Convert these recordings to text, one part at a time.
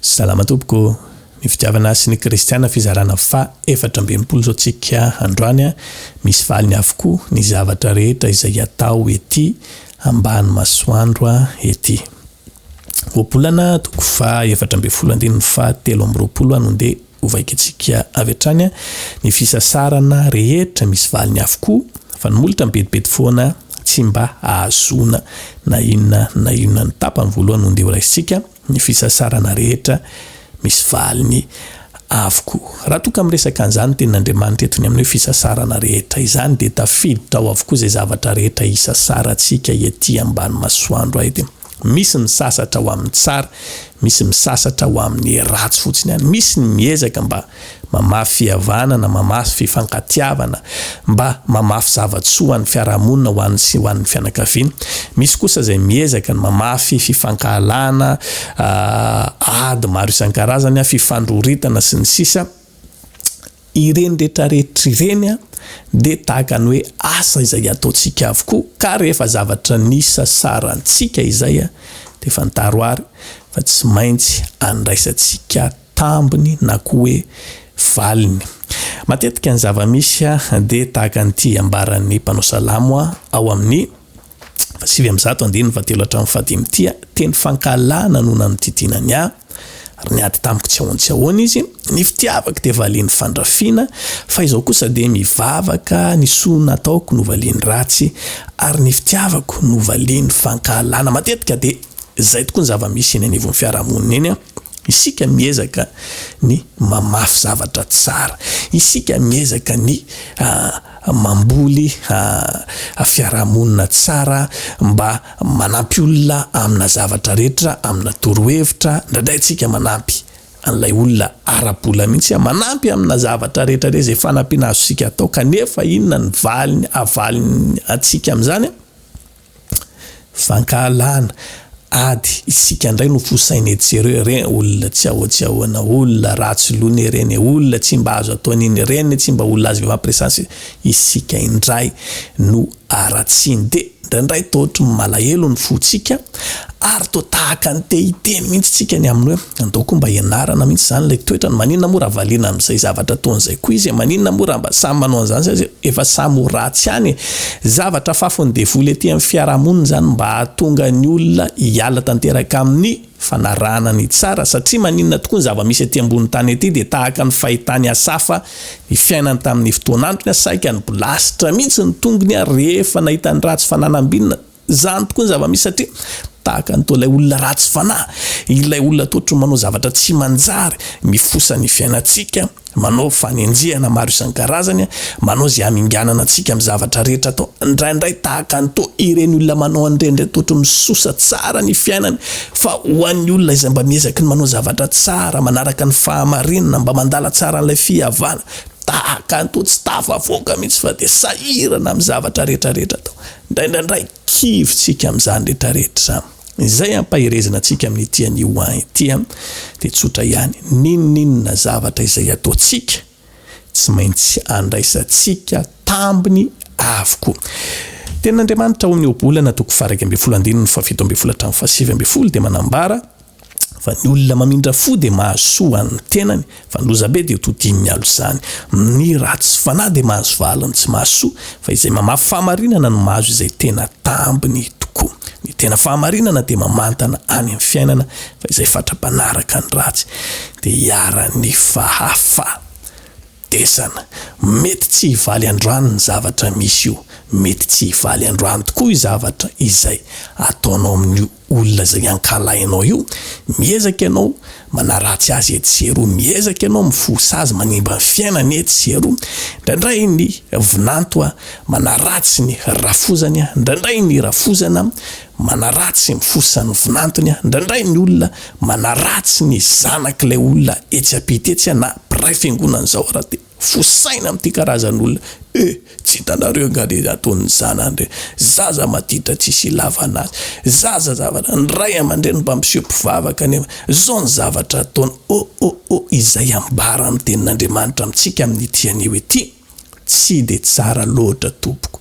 Salama tompoko, ny fitiavana sy ny kristiana fizarana faha efatra amby enimpolo izao tsika androany a, misy valiny avokoa ny zavatra rehetra izay atao ety ambany masoandro a ety oabolana toko faha efatra ambin'ny folo andininy faha telo amby roapolo a no ndeha Hovakintsika avy hatrany ny fisasarana rehetra misy valiny avokoa fa ny molotra mibedibedy foana tsy mba ahazoana na inona na inona ny tapany voalohany ondeha horaisintsika ny fisasarana rehetra misy valiny avokoa raha toa ka miresaka an'izany tenin'Andriamanitra eto ny amin'ny hoe fisasarana rehetra izany dia tafiditra ao avokoa izay zavatra rehetra isasarantsika ety ambany masoandro ety Misy misasatra ho amin'ny tsara, misy misasatra ho amin'ny ratsy fotsiny ihany. Misy ny miezaka mba mamafy fihavana na mamafy fifankatiavana, mba mamafy zava-tsoa ho an'ny fiarahamonina, ho an'ny sy ho an'ny fianakaviana. Misy kosa izay miezaka ny mamafy fifankahalana, ady maro isan-karazany, fifandroritana sy ny sisa. ireny rehetra rehetra ireny dia tahaka ny hoe asa izay ataontsika avokoa ka rehefa zavatra nisasarantsika izay dia fantaro ary fa tsy maintsy andraisantsika tambiny na koa hoe valiny. Matetika ny zava-misy dia tahaka an'ity ambaran'ny mpanao salamo ao amin'ny. sivy amby zato andininy fahatelo hatramin'ny fahadimy Tia teny fankahalana no nanodidina ny ahy, ary niady tamiko tsy ahoan-tsy ahoana izy. Ny fitiavako dia valian'ny fandrafiana, fa izao kosa dia mivavaka ny soa nataoko no valian'ny ratsy, ary ny fitiavako no valian'ny fankahalana. Matetika dia izay tokoa ny zava-misy eny anivon'ny fiarahamonina eny an! Isika miezaka ny mamafy zavatra tsara, isika miezaka ny mamboly fiarahamonina tsara mba manampy olona amina zavatra rehetra, amina torohevitra, indraindray tsika manampy an'ilay olona ara-bola mihitsy, manampy amina zavatra rehetra re izay fanampiana azontsika atao, kanefa inona ny valiny, avaliny antsika amin'izany? Fankahalana, ady, isika ndray no fosaina etsy sy eroa re olona tsy ahoa tsy ahoana olona ratsy loha ne reny e olona tsy mba azo atao an'iny ireny ne tsy mba olona azo vava presence isika indray no aratsiny de ndraindray toa ohatry ny malahelo ny fotsika ary toa tahaka ny te hiteny mihitsy tsika ny amin'ny hoe Andaoko mba hianarana mihitsy izany ilay toetrany, maninona moa raha valiana amin'izay zavatra ataony izay koa izy e, maninona moa raha mba samy manao an'izany sady efa samy ho ratsy ihany e. Zavatra afafon'ny devoly aty amin'ny fiarahamonina izany mba hahatonga ny olona hiala tanteraka amin'ny fanarahana ny tsara satria maninona tokoa ny zava-misy aty ambony tany aty dia tahaka ny fahitan'i Asafa ny fiainany tamin'ny fotoan'antony a, saika nibolasitra mihitsy ny tongony a rehefa nahita ny ratsy fananam-binana. Izany tokoa ny zava-misy satria tahaka ny toa ilay olona ratsy fanahy, ilay olona toa ohatran'ny manao zavatra tsy manjary, mifosa ny fiainantsika, manao fanenjehana maro isan-karazany, manao izay haminganana antsika amin'ny zavatra rehetra atao. Indraindray tahaka ny toa ireny olona manao an'ireny ireny toa ohatran'ny misosa tsara ny fiainany, fa ho an'ny olona izay mba miezaky ny manao zavatra tsara, manaraka ny fahamarinana, mba mandala tsara an'ilay fihavana, tahaka ny toa tsy tafavoaka mihitsy fa dia sahirana amin'ny zavatra rehetra rehetra atao. Indraindraindray kivy tsika amin'izany rehetra rehetra izany. Izay ampaherezana antsika amin'ity anio ahy ity dia tsotra ihany, n'inon'inona zavatra izay ataontsika, tsy maintsy andraisantsika tambiny avokoa. Tenin'Andriamanitra ao amin'ny Ohabolana toko faha iraika ambin'ny folo andininy faha fito ambin'ny folo hatramin'ny faha sivy ambin'ny folo dia manambara, Fa ny olona mamindra fo dia mahasoa an ny tenany, fa ny lozabe dia todin ny alo izany. Ny ratsy fanahy dia mahazo valiny tsy mahasoa, fa izay mamafy fahamarinana no mahazo izay tena tambiny tokoa. Ny tena fahamarinana dia mamantana any am fiainana, fa izay fatra-panaraka ny ratsy dia iharan ny fahafa. Desana, mety tsy hivaly androany ny zavatra misy io, mety tsy hivaly androany tokoa io zavatra izay ataonao amin'io olona izay ankalahinao io, miezaka ianao manaratsy azy etsy sy eroa, miezaka ianao mifoha sazy manimba ny fiainany etsy sy eroa, indraindray ny vinanto manaratsy ny rafozany, indraindray ny rafozana Manaratsy ny fosan'ny vinantony an! Indraindray ny olona manaratsy ny zanak'ilay olona etsy ampita etsy an! Na mpiray fiangonana izao ara dia fosaina amin'ity karazan'olona eh! Tsy hitanareo angaha le ataon'ny zanany reny? Zaza maditra tsisy ilavana azy! Zaza zavatra, ny ray aman-dreny mba miseho mpivavaka nefa izao ny zavatra ataony! Oh! Oh! Oh! Izay ambara amin'ny tenin'Andriamanitra amintsika amin'ity anio ity. Tsy dia tsara loatra tompoko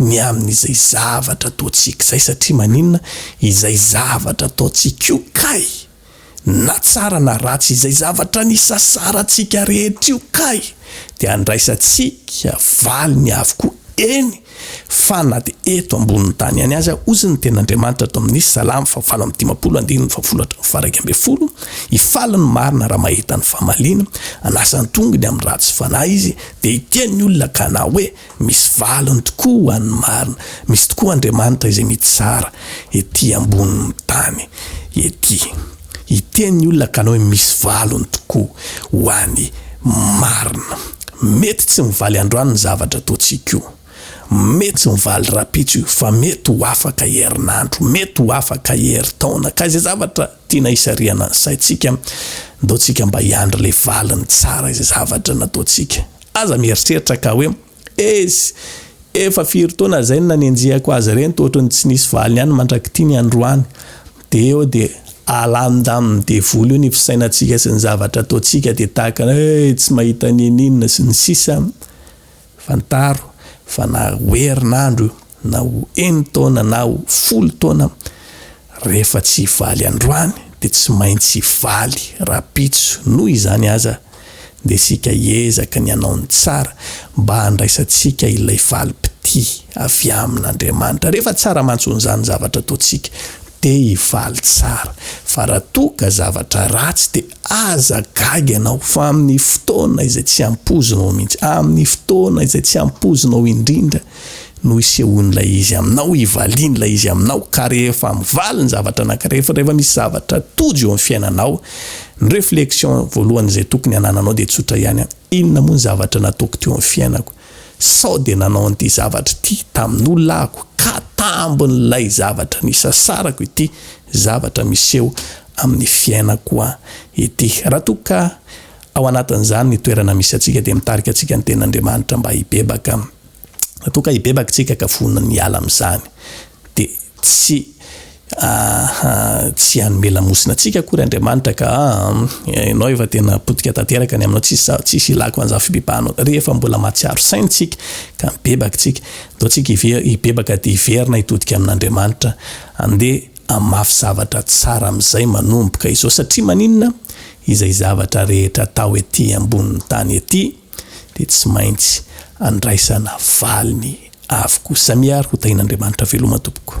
ny amin'izay zavatra ataontsika izay satria maninona izay zavatra ataontsika io kay na tsara na ratsy izay zavatra nisasarantsika rehetra io kay dia andraisantsika valiny avokoa eny Fa na dia eto ambonin'ny tany ihany aza, hoy ny Tenin'Andriamanitra ato amin'ny Salamo fahavalo amby dimampolo, andininy fahafolo hatramin'ny faharaika ambin'ny folo, Hifaly ny marina raha mahita ny famaliana, hanasa ny tongony amin'ny ratsy fanahy izy, dia hitia ny olona ka hanao hoe, Misy valiny tokoa ho an'ny marina. Misy tokoa Andriamanitra izay mitsara ety ambonin'ny tany ety. Hiteny ny olona kanao hoe misy valiny tokoa ho any marina. Mety tsy mivaly androany ny zavatra ataontsika io. Mety tsy mivaly rapitso io fa mety ho afaka herinandro, mety ho afaka herintaona. Ka izay zavatra tiana hisarihana ny saintsika, ndeotsika mba hiandry ilay valiny tsara izay zavatra nataontsika. Aza mieritreritra ka hoe. Eish! Efa firy taona zay no nanenjehako azy ireny toa ohatran'ny tsy nisy valiny ihany mandrak'ity ny androany. Dia eo dia alanondamin'ny devoly eo ny fisainantsika sy ny zavatra ataontsika dia tahaka ny hoe tsy mahita n'inon'inona sy ny sisa. Fantaro fa naha ho herinandro io. na ho eny taona na ho folo taona rehefa tsy hivaly androany dia tsy maintsy hivaly rapitso noho izany aza dia isika hiezaka ny hanao ny tsara mba handraisantsika ilay valim-pitia avy amin' Andriamanitra rehefa tsara mantsy onzany zavatra ataontsika dia hivaly tsara fa raha toa ka zavatra ratsy dia aza gaga ianao fa amin' ny fotoana izay tsy ampoizinao mihitsy amin' ny fotoana izay tsy ampoizinao indrindra no isehoan'ilay izy aminao, ivalian'ilay izy aminao, ka rehefa mivaly ny zavatra anankiray, rehefa rehefa misy zavatra tojo eo amin'ny fiainanao, ny réflexion voalohany izay tokony hanananao dia tsotra ihany, inona moa ny zavatra nataoko teo amin'ny fiainako? Sao dia nanao an'ity zavatra ity tamin'olona ahako, ka tambin'ilay zavatra nisasarako ity zavatra miseho amin'ny fiainako ity. Raha toa ka ao anatin'izany ny toerana misy antsika dia mitarika antsika ny Tenin'Andriamanitra mba hibebaka. Toa ka hibebaka tsika ka vonona ny hiala amin'izany. Dia tsy aha tsy hanome lamosina antsika akory Andriamanitra ka aa ianao efa tena potika tanteraka ny aminao tsisy za tsisy hilako an'izany fibebahanao. Rehefa mbola mahatsiaro saina tsika ka mibebaka tsika. Toa tsika hive hibebaka dia hiverina hitodika amin'Andriamanitra. Andeha hamafy zavatra tsara amin'izay manomboka izao. Satria maninona? Izay zavatra rehetra atao ety ambonin'ny tany ety. dia tsy maintsy andraisana valiny avokoa. Samia ary ho tahin'Andriamanitra veloma tompoko.